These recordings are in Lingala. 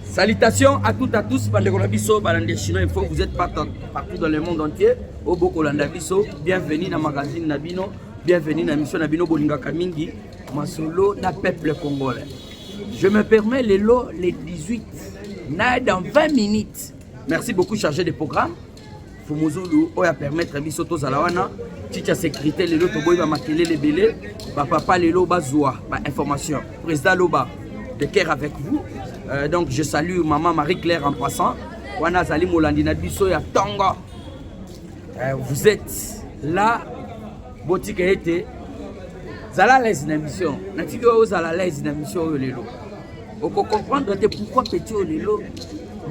Salutations à toutes à tous bandeko na biso balandi chinois info vous êtes partout, partout dans le monde entier oyo bokolanda biso bienvenue na magazine na bino bienvenue na mission na bino bolingaka mingi masolo na peuple congolais je me permets lelo le 18 na dans 20 minutes merci beaucoup chargé de programme fumuzulu oyo apermettre biso tozala wana chicha sécurité lelo toboyi bamakelele ebele bapapa lelo bazwa bainformation président loba de cœur avec vous euh, donc je salue maman marie claire en passant wana azali molandi na biso ya ntongo euh, vous êtes là botika ete zala lese na mission natiki oyo ozala lese na mission oyo lelo oko comprendre te pourquoi petit oyo lelo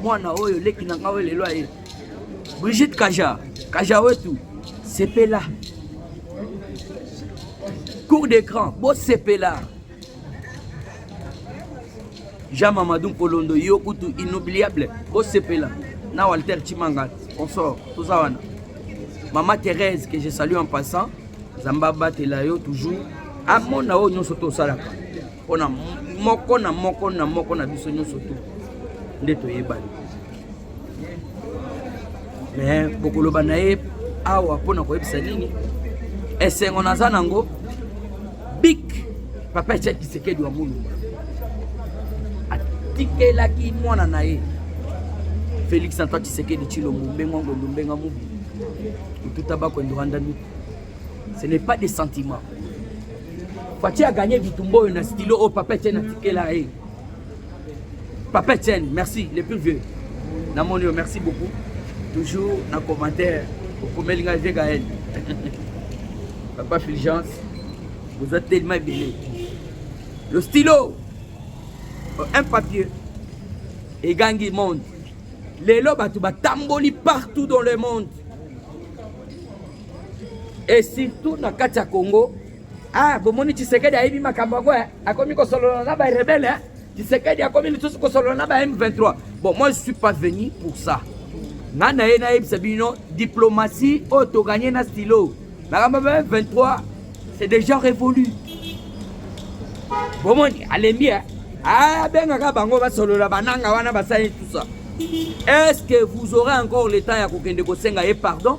mwana oyo leki na ngai oyo lelo aye brigitte kaja kaja wetu sepela cour de grand bosepela jean mamadou nkolondo yo kutu inoubliable bosepela na walter chimanga consort toza wana mama thérèse que je salue en passant nzambe abatela yo toujours amona oyo nyonso tosalaka mpo na moko na moko na moko na biso nyonso tu nde toyebani me bokoloba na ye awa mpo na koyebisa nini esengo naza nango bik papa etia kisekedi wa molumba atikelaki mwana na ye felix antoine kisekedi tshilombo mbenga ngombo mbenga mobi ututa bakwendo rwanda miku ce n'est pas des sentiments Fatshi a gagné bitumba oyo na stylo oyo Papa Etienne atikela ye. Papa Etienne, merci, le plus vieux. Namoni yo, merci beaucoup. Toujours na commentaire, okomeli ngai vieux Gaël. Papa Fulgence, vous êtes tellement ebele. Le stylo, euh, un papier, egangi monde. Lelo bato batamboli partout dans le monde. et surtout na kati ya Congo ah bomoni Tshisekedi ayebi makambo yango eh. akomi kosolola na ba rebelle eh. Tshisekedi akomi lisusu kosolola na ba M23 bon moi je suis pas venu pour ça nga na ye nayebisa bino diplomatie oyo toganye na stylo makambo ba M23 c'est déjà révolu bomoni alembi eh. abengaka ah, bango basolola bananga wana basali tout ça est ce que vous aurez encore le temps ya kokende kosenga ye pardon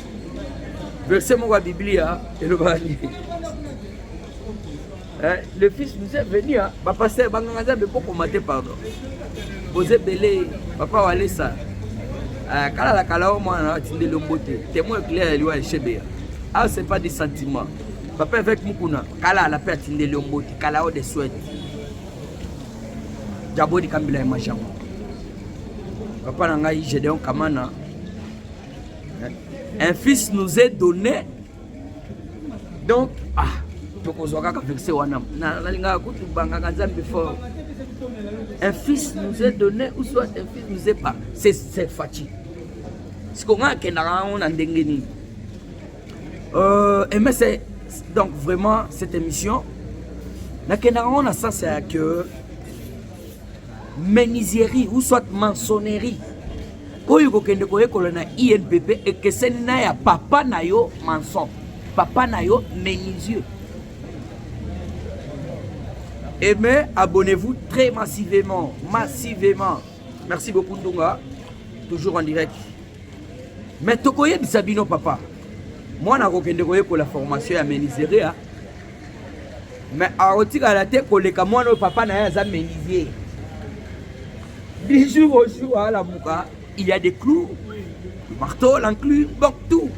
verse moko ya biblia elobaka nini eh, le fils nous est venu bapaster banganga nzambe bokoma te pardon boza ebele papa walesa eh, kala la kala o mwana na atindeli ombo te témoin éclair ya liwa ya shebeya ah c'est pas des sentiments papa avec mukuna kala ala mpe atindeli ombo te kala o de souhaite jabodi kambila ya majango papa na ngai gedeon kamana un fils nous est donné donc ah tokozwa kaka verse wana nalingaka kutu bangaka nzambe fort un fils nous est donné ou soit un fils nous est pas c'est c'est faci siko ngai akendaka yango na ndenge nini euh, eme c'est donc vraiment cette émission nakendaka yango na sens ya que menuiserie ou soit mansonnerie oyo kokende koyekola na inpp ekeseni na ya papa na yo manson papa na yo menuisier aimez abonnez-vous très massivement massivement merci beaucoup ndunga toujours en direct mais tokoyebisa bino papa mwana akokende koyekola formation ya menuiserie mais akotikala te koleka mwana oyo papa na ye aza menuisier du jour au jour alamuka il y a des clous le marteau l'enclume donc tout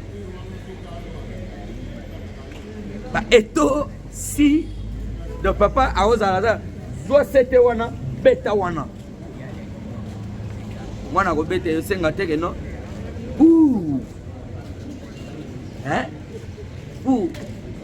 ba eto si donc papa akozala za zwa sete wana beta wana mwana akobeta yo senga teke no ouh hein ouh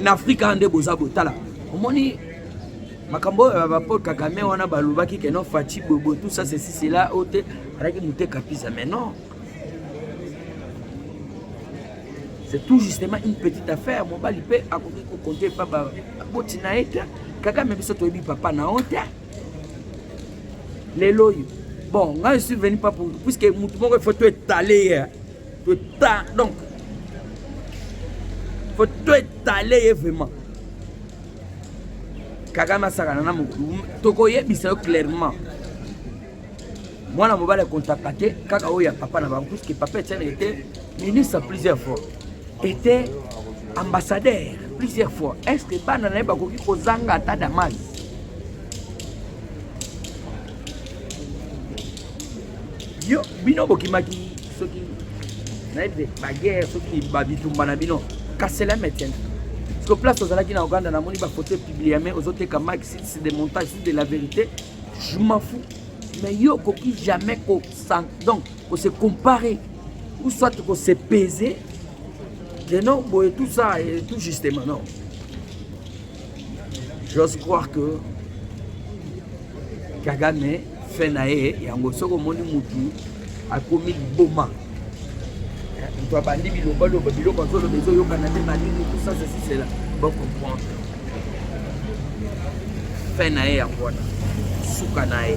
na afrika awa nde boza botala omoni makambo oyo bapol kagame wana balobaki ke non faci bobo tout ça ceci cela oyo te alaki mote kapisa mais non c'est tout justement une petite affaire mobali mpe akoki kokonte epa baboti na ye te kagame biso toyebi papa na yo te lelo oyo bon ngai je suis venu pas pour puisque motu moko il faut to etale ye Tota, donc, faut tout étaler ye vraiment. Kagame asakana na mokulu, tokoyebisa yo clairement. mwana mobali akontaka te kaka oyo ya papa na bango puisque papa etienne était ministre plusieurs fois était ambassadeur plusieurs fois est ce que bana na ye bakoki kozanga ata damage Yo bino bokimaki soki nayebi te baguerre soki babitumba na bino kasela metienne que place ozalaki na Ouganda namoni ba photo publie mais ozoteka Mike si c'est des montages si de la vérité je m'en fous mais yo okoki jamais ko donc ko se comparer ou soit ko se peser que non boye tout ça et tout justement non J'ose croire que Kagame fait na ye yango soki omoni mutu akomi liboma moto abandi bilobaloba biloko azoloba ezoyokana nde malili tout ça ceci cela bocomprendre fin na ye yango wana suka na ye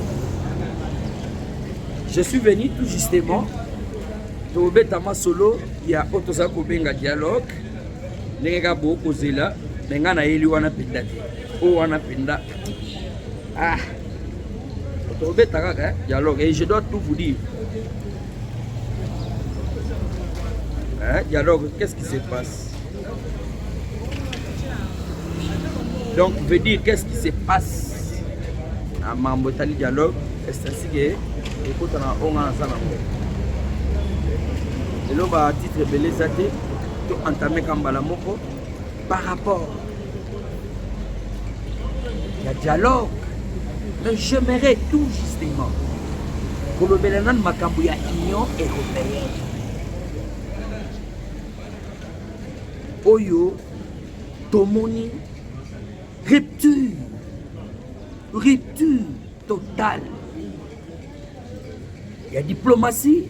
je suis venu tout justement tobeta masolo ya oyo tozali kobenga dialogue ndenge kaka bokozela me ngai nayeli wana mpenza te oyo wana mpenza ah tobeta kaka eh, dialogue et je dois tout vous dire hein, dialogue qu'est-ce qui se passe donc veut dire qu'est-ce qui se passe na mambo etali dialogue estasike ekota na onga naza nango lelo batitre ebele eza te to entame ka mbala moko par rapport ya dialogue mais j'aimerais tout justement kolobela nanu makambo ya union européenne oyo tomoni rupture rupture totale ya diplomatie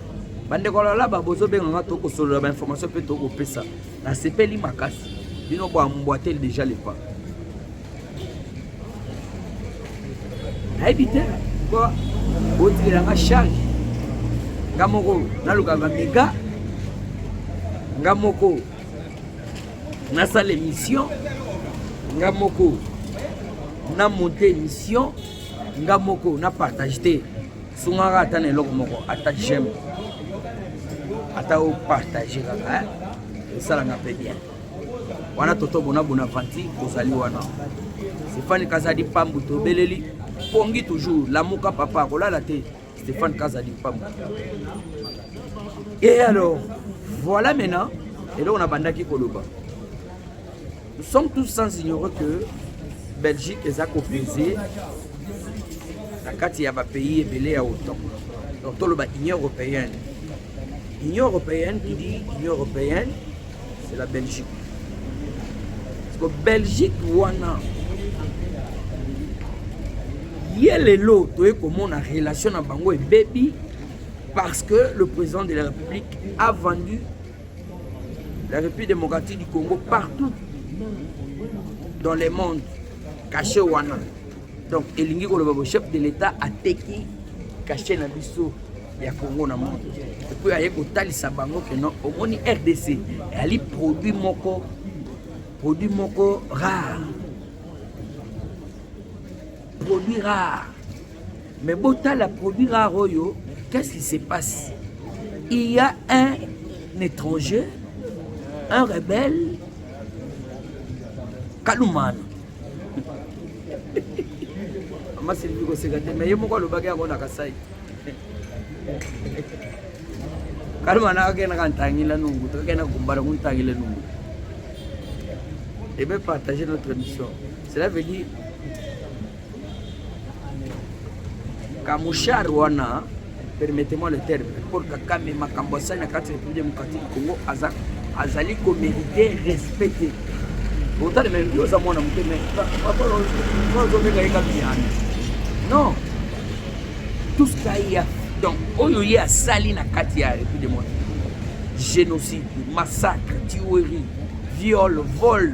bandeko lalaba bozobenga nga tokosolola bainformation mpe tokopesa nasepeli makasi bino boambwateli deja lepa nayebi te po botikela nga charge nga moko naluka bamega nga moko nasala émission nga moko na monte émission nga moko na partage te sungaka ata na eloko moko ata j'aime ata opartage kaka esalanga mpe bien wana toto bona bona vanti kozali wana stéphane kazadi pambu tobeleli pongi toujours lamuka papa kolala te stéphane kazadi pambu et alors voilà maintenant eloko nabandaki koloba Nous sommes tous sans ignorer que Belgique eza kopese na kati ya bapays ebele ya otan donc toloba union européenne union européenne qui dit union européenne c'est la belgique parce que belgique wana ye lelo toye komona relation na bango ebebi parce que le président de la république a vendu La République démocratique du Congo partout dans le monde caché wana donc elingi koloba bo chef de l'État ateki caché na biso ya Congo na monde epuis aye kotalisa bango ke non omoni RDC eyali produit moko produit moko rare produit rare Mais botala produit rare oyo, qu'est-ce qui se passe? Il y a un étranger, un rebelle, Kalumana. Mama Sylvie koseka te, mais ye moko alobaki yango na Kasai. Kalumana akenda ka ntangila nungu, tokenda kumbala ku ntangila nungu. Et bien partager notre émission. Cela veut dire Kamushar wana permettez-moi le terme Paul Kagame makambo asali na kati ya République démocratique du Congo aza azali ko mériter respect te otali me yo oza mwana moke me ozobeka ye kaka biyana non tout ce qu'a ya donc oyo ye asali na kati ya République démocratique génocide, massacre, tuerie, viol, vol,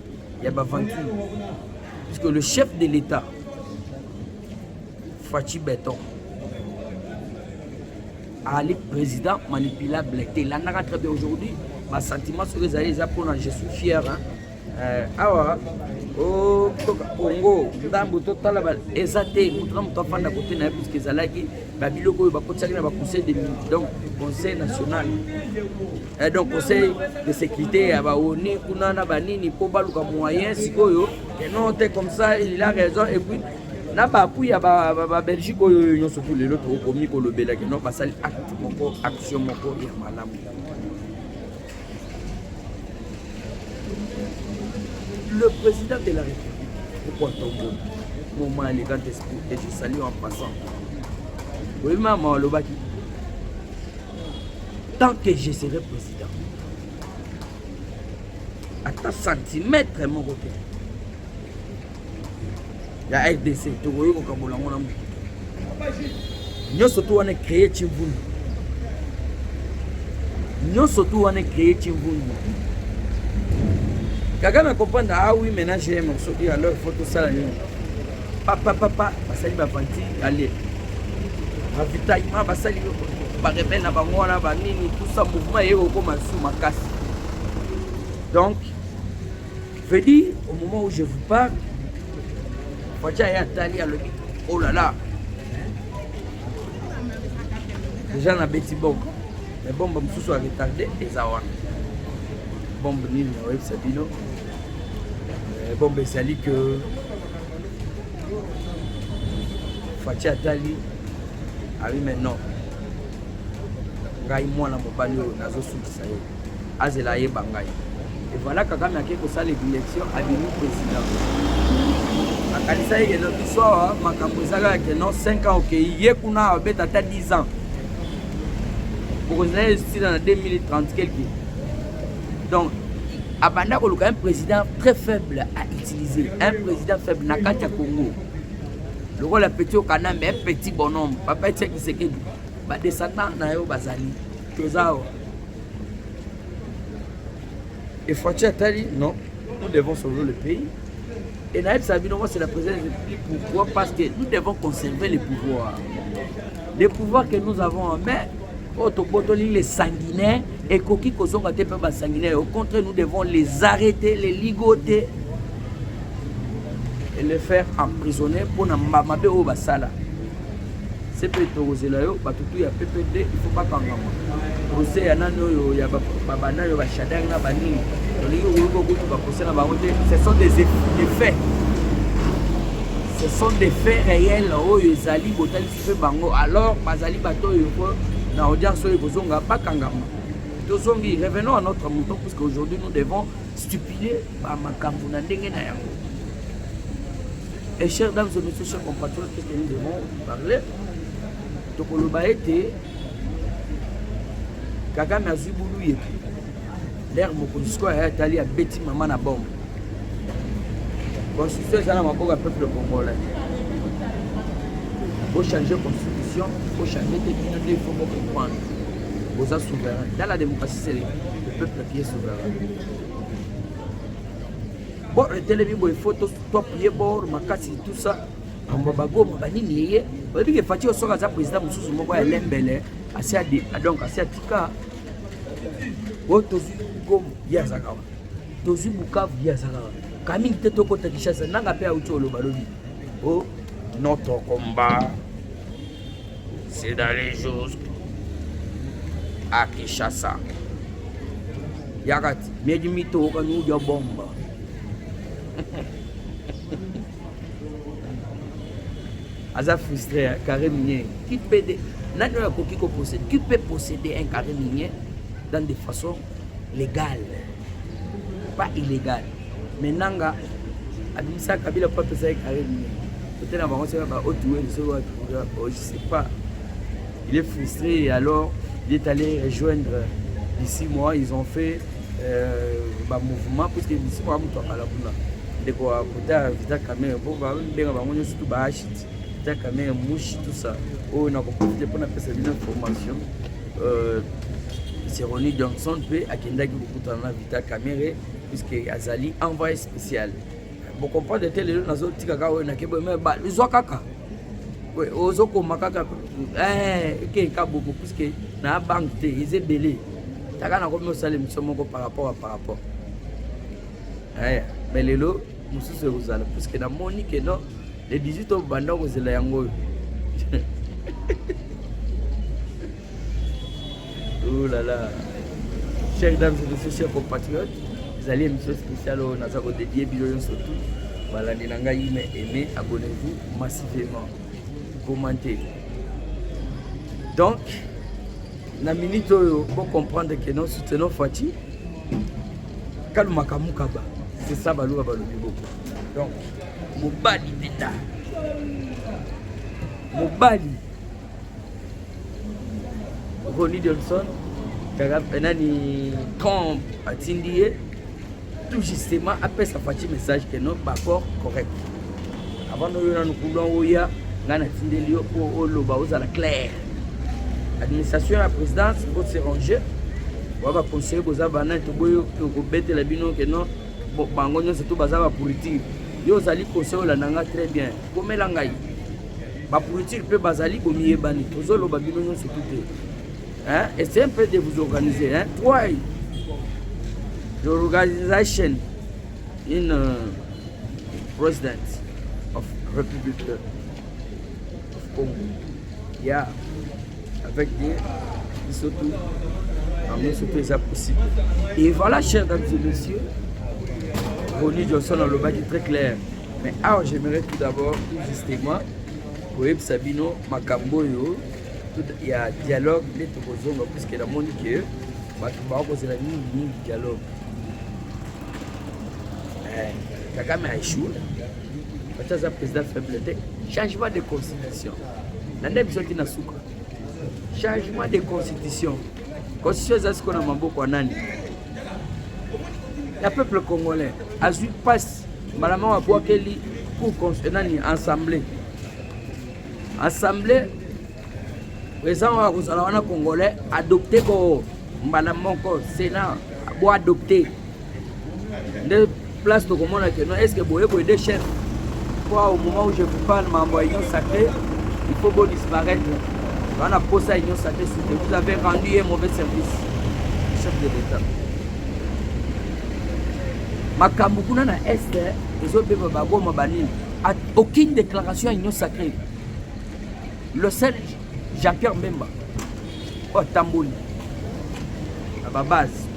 Il y a Bavanti. Parce que le chef de l'État, Fatih Beton, Ali président manipulable. Et là, on très bien aujourd'hui. Ma sentiment sur les alliés, je suis fier. Hein. Euh, awa oh, congo ndambo totala eza te moto na moto afanda kote na ye puiske ezalaki babiloko oyo bakotisaki na baconseil de donc conseil national Eh, donc conseil de sécurité ya baoni kuna na banini mpo baluka moyen sikoyo non te comme ça il a raison et puis na bapui ya babelgique oyo nyonso tu lelo tokomi kolobela kino basali acte moko action moko ya malamu le président de la république pourquoi tombo moment aleka esprit et je salue en passant oyebi mama alobaki tant que je serai président ata centimètre moko te ya rdc tokoki kokabola yango na moto nyonso to wana ecreye cimvundu nyonso to wana ecreye cimvundu kaka na comprendre ah oui maintenant j'ai un morceau qui alors il faut tosala nini papa papa basali bapanti ale ravitaillement basali barebele na bango wana banini tusa mouvement eye kokoma su makasi donc veut dire au moment où je vous parle faci aye atali alobi olala oh deja na beti bombe me bombe mosusu ya retarde eza wana bombe nini oyebisa bino eh, bombe ezali que Fatshi atali abi mais non ngai mwana mobali oyo nazosukisa ye azela ayeba ngai evala kakame akei kosala ebilection abimi président akanisa ye keno biso awa makambo ezalaka keno 5 ans okei ye kuna abeta ata 10 ans bokozala esila na 2030 quelque donc abanda koluka un président très faible à un président faible na kati ya congo lokola petit okana mais petit bonhomme papa etia kisekedi badescendant na yo bazali toza awa efaci atali non nous devons sauver le pays et nayebisa bino moi c'est la présidence pourquoi parce que nous devons conserver le pouvoir le pouvoir que nous avons en main oyo tobotoli les sanguinaires ekoki kozonga te mpe basanguinaire au contraire nous devons les arrêter les ligoter et les faire emprisonner mpo na mabe oyo basala se mpe tokozela yo bato tu ya ppd ifo bakangama procès ya nani oyo ya babanda oyo bashadari na banini tolingi okoyoka okutu baprocès na bango te ce sont des faits ce sont des faits réels oyo ezali botalisi mpe bango alors bazali bato oyo po na audience oyo ekozonga bakangama tozongi revenons à notre mouton puisque aujourd'hui nous devons stipuler bamakambo na ndenge na yango et chers dames et messieurs chers compatriotes qu'est-ce que nous devons parler tokoloba ete kagame azwi bulu yetu lere mokonzi sikoyo aya tali abeti mama na bombe constitution eza na maboko ya peuple congolais bochange constitution bochange te bino nde ifo bocomprendre boza souverain dans la démocratie c'est le peuple qui est souverain bo etelemi boye fo toapuye bor makasi tout ça bambo bagoma banini yeye oyebi ke fati osoka aza président mosusu moko ya lembele asi donc asi atika oyo tozwi goma ye azaka wana tozwi bukavu ye azaka wana kamingi te tokota kishasa nanga mpe auti oloba lobi o oh, notre combat c'est d'aller jusque à kishasa yakati miedi mito okani uja bomba aza frustré ya carré minier qui peut de nani oyo akoki ko posséder qui peut posséder un carré minier dans des façons légales pas illégales mais nanga abimisa kabila po apesa ye carré minier peut-être na bango seka ba otuwe lisolo wapi oh, je sais pas il est frustré et alors il est allé rejoindre ici moi ils ont fait euh, ba mouvement puisque lisiko ya moto akala kuna ndeko ya kota ya vita kamere po babenga bango nyonso tu baashit vita kamere mushi tout ça oyo nakoprofite mpo napesa bino information euh, seroni johnson mpe akendaki kokutana na vita kamere puisque azali envoyé spécial Bo comprendre te lelo nazo tika ka oyo na kebo mais ba zwa kaka. Oui, ozo koma kaka eh ke ka bobo puisque na banque te ils belé. Taka na komi osala émission moko par rapport à par rapport. Eh mais lelo mususu ekozala puisque na moni que non le 18 obanda kozela yango oyo. Oh là là. Chers dames et messieurs, chers compatriotes, ezali émission spéciale oyo naza kodedie bino nyonso tout balandi na ngai ime aime abonnez-vous massivement commente donc na minute oyo bocomprendre que non soutenons fati kalumaka mukaba c'est ça baluba balobi boko donc mobali mpenza mobali Ronnie Johnson kaka eh, nani Trump atindi ye tout justement apesa Fatshi message que non baccord correct avant noyo nanu coulon oya ngai natindeli yo mpo oloba ozala claire administration ya présidence faut se ranger oya baconseille boza banani toboyi tokobetela bino ke non bango nyonso to baza bapolitike yo ozali conseil olanda ngai très bien komela ngai Ba politique pe bazali bomiyebani tozoloba bino nyonso tu te hein? essaye un peu de vous organiser hein? try the organization in uh, president of republic of congo yeah avec des biso tu bango nyonso mpe eza possible et voilà chers dames et messieurs roni johnson alobaki très clair Mais awa j'aimerais tout d'abord tout justement koyebisa bino makambo oyo ya dialogue nde tokozonga puiske namoni ke bato bakozela mingi mingi dialogue eh, kagame aechoue bato aza président faible te changement de constitution na nde biso ti na suka changement de constitution Constitution eza siko na maboko ya nani? Ya peuple congolais azwi pasi mbala moko abwakeli cour eh, nani assemblée assemblée eza oyo akozala wana congolais adopte ko mbala moko senat bo adopte nde place tokomona que non est-ce que boye boye de chef quoi au moment où je vous parle mambo ya union sacrée il faut bo disparaître wana posa union sacrée sute vous avez rendu ye mauvais service chef de l'état makambo kuna na est ezobeba baboma banini aucune déclaration ya union sacrée le seul Jean Pierre Mbemba oyo atamboli na ba base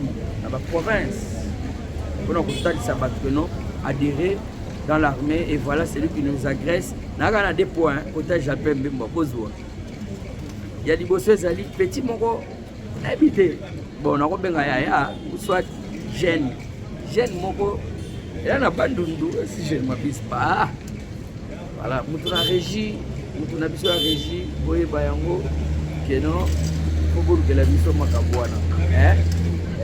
na ba province mpona kotalisa bato que non adhérer dans l'armée et voilà celui qui nous agresse nayaka na deux points kota Jean Pierre Mbemba bozwa ya liboso ezali petit moko nayebi te bon nakobenga yaya soit jeune jeune moko ela na bandundu si jeune mabispa Voilà, mutu na régie, mutu na biso ya régie, boyeba yango que non, faut bolukela biso makambo wana. Hein?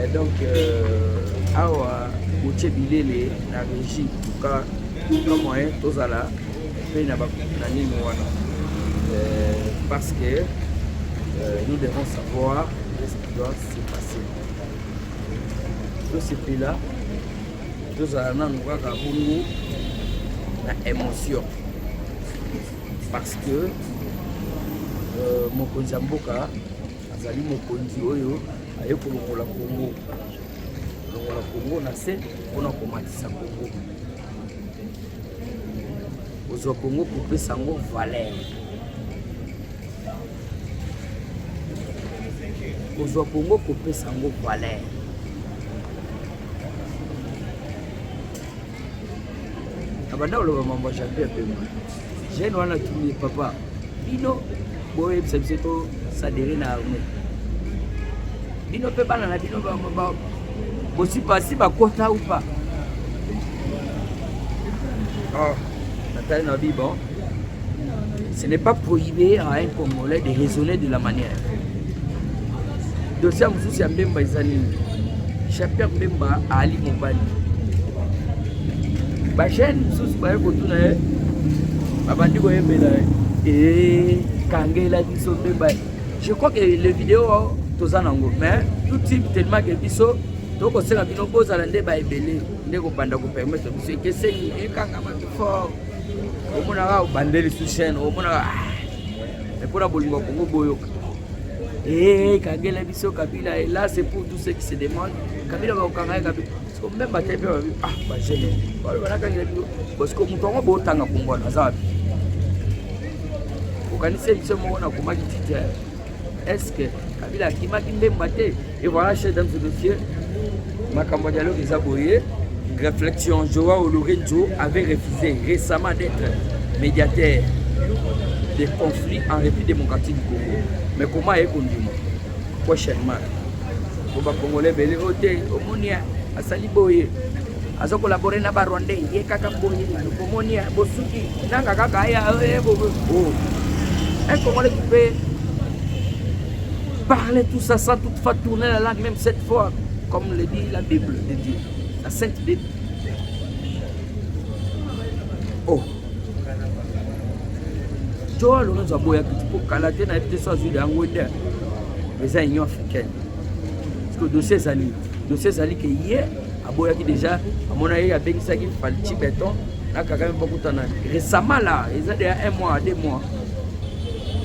Et donc euh, awa botie bilele na régie, en tout cas, kama moyen tozala mpe na na nini wana. Euh, parce que euh, nous devons savoir ce qui doit se passer. Tout ce pays-là, tozala nanu kaka bongo na émotion parce que euh, mokonzi ya mboka azali mokonzi oyo aye kolongola kongo kolongola kongo na se mpona komatisa kongo kozwa kongo kopesa yango valeur kozwa kongo kopesa yango valeur abanda koloba mambo ya champion pema jeune wana tumi papa bino boyebisa biso tosadere na arme bino mpe bana na bino bosipasi bakota upa oh. Ah. Natali na bi bon, ce n'est pas prohibé à un Congolais de raisonner de la manière. Dossier mosusu ya Mbemba eza nini? Chapia Mbemba ali mobali. Ba chaîne mosusu baye kotuna ye babandi koyembela ee kangela biso Mbemba. Je crois que le vidéo toza nango mais tout type tellement que biso tokosela bino bozala nde baebele nde kobanda kopermettre biso ekeseni ekanga bato fort omonaka obande lisu chaine omonaka ah, mpo na bolingo ya kongo boyoka eh, ekangela biso kabila elas eh, pour tout ce qui se demande kabila bakokanga ye kabila siko meme bate mpe babi ah bagene balo banakangela bino bosiko moto yango botanga kongo wana aza wapi okanisi biso moko nakomaki titre Est-ce que Kabila akimaki mbemba te? Et voilà, chers dames et messieurs, makambo ya dialogue eza boye. Réflexion, Joao Lourenço avait refusé récemment d'être médiateur des conflits en République démocratique du Congo. Mais comment est kondima Prochainement, pour les Congolais, belé, ote, omoni, asali boye. azo collabore na ba rwandais ye kaka boni bomoni ya bosuki nanga kaka aya eh, eh, oh. un congolais qui peut parler tout ça sans toutefois tourner la langue même cette fois comme le dit la bible de Dieu la sainte bible oh joa lorenzo aboyaki ti mpo kala te nayebi te so azwi yango te eza union africaine parce que dossier ezali dossier ezali ke ye aboyaki deja amona ye abengisaki falci beton na kagame bakutana récemment la eza deya un mois deux mois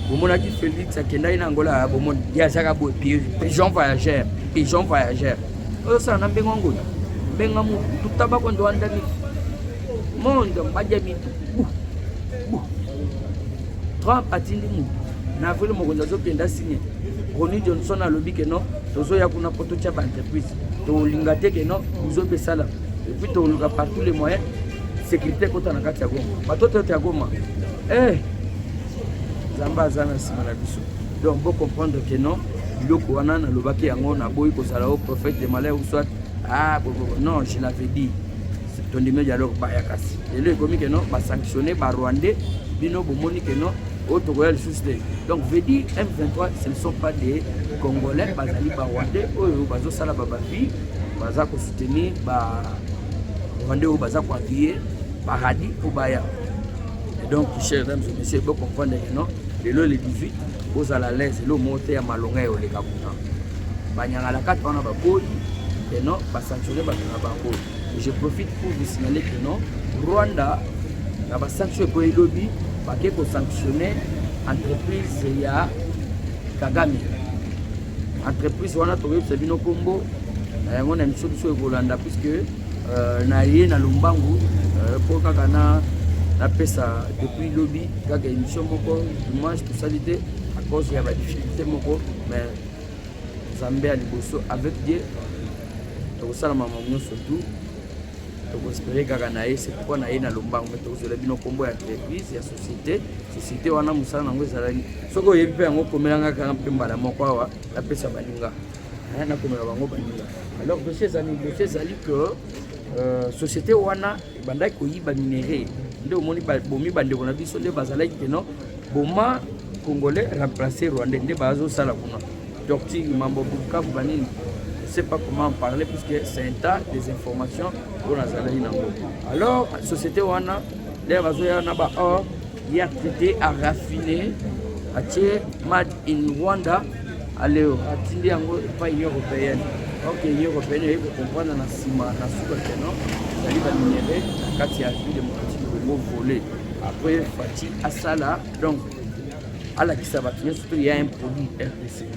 bomonaki félix akendaki na angola bomoni ye azaka boye pigeon voyageur pigeon voyageur ozosala na mbengo ngoya mbenga mutu tutabako ndo andami monde mbadia mitu trump atindi mutu na avril mokonzi azokenda signe roni johnson alobi ke non tozoya kuna mpo totya baentreprise tolinga te ke no buzo mpe esala epuis toluka par tous les moyens sécurité ekota na kati ya goma bato toyote ya goma eh nzambe aza na nsima na biso donc bo comprendre ke non biloko wana nalobaki yango naboyi kozala o prophète de malheur ou soit ah bobobo non je l'avais dit tondimi dialogue baya kasi lelo ekomi ke non basanctionne barwandais bino bomoni ke non oyo tokoya lisusu te donc veut dire m23 ce ne sont pas des congolais bazali barwandais oyo bazosala babavi baza kosoutenir barwandais oyo baza koaviye paradis mpo baya donc chers dames et messieurs bocomprendre que non lelo le 18 bozala à l'aise elo moko te ya malonga ya oleka kuna banyangalakata wana baboyi eno basanctionne bato na bango Je profite pour vous signaler que non, Rwanda, na ba sanction ekoya elobi bake ko sanctionner entreprise ya Kagame. Entreprise wana tokoyebisa bino nkombo na yango na emission biso ekolanda puisque euh, na ye na lombangu mpo euh, kaka na napesa depuis lobi kaka émission moko dimanche tosali te à cause ya badifficulté moko mais nzambe ya liboso avec die tokosala mama nyonso tu tokospere kaka na ye sepokwa na ye na lombango me tokozwela bino nkombo ya entreprise ya société société wana mosala nango ezalaki soki oyebi mpe yango komelanga kaka mpe mbala moko awa napesa baninga nakomela bango baninga alors dossier ezali dossier ezali que euh, société wana ebandaki koyiba minere nde omoni bomi bandeko na biso nde bazalaki keno boma congolais remplace rwandais nde bazosala kuna torture mambo bukavu banini sais pas comment en parler puisque c'est un tas des informations oyo nazalaki nango alors société wana lere bazoya na ba or Ya Tete a raffine atie mad in Rwanda aleo atindi yango epai Union européenne ok Union européenne eyebi kocomprendre na nsima na suka keno ezali baminere na kati ya République démocratique du Congo volet après Fatshi asala donc alakisa bato nyonso mpe ya impoli RDC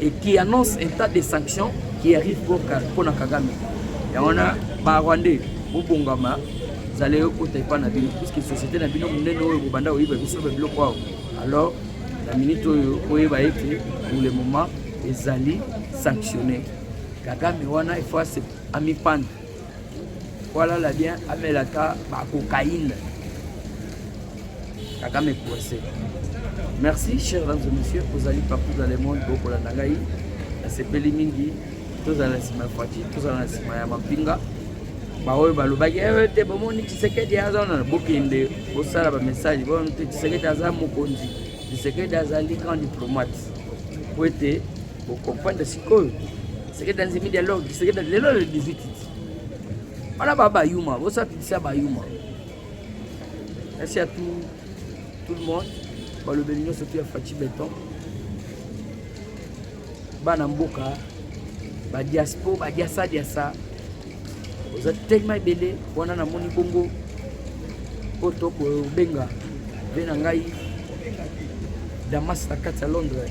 et qui annonce un tas de sanctions qui arrive pour, pour Kagame. Et on a ba Rwandais, Bobongama, zala ekota epai na bino puiske société na bino monene oyo bobanda koyeba biso ba biloko awa alors na minute oyo oyeba ete pour le moment ezali sanctionne kagame wana il faut amipanda Voilà la bien amela ta ba cocaïne. Kagame coincé. Merci chers dames et messieurs, ozali partout dans le monde bokolanda ngai nasepeli mingi tozala na nsima ya fati tozala na nsima ya mampinga baoyo balobaki eh, te bomoni tshisekedi aza wana bokende bosala bamessage bomoni te tshisekedi aza mokonzi tshisekedi azali grand diplomate po ete Bo comprendre sikoyo. C'est que dans le dialogue, c'est que dans le 18 wana ba bayuma bosapitisa bayuma merci à tout, tout le monde balobeli nyonso tu ya faci beton bana mboka badiaspo badiasa diasa oza telema ebele wana namoni bongo oyo tokobenga mpe na ngai damas na kati ya londres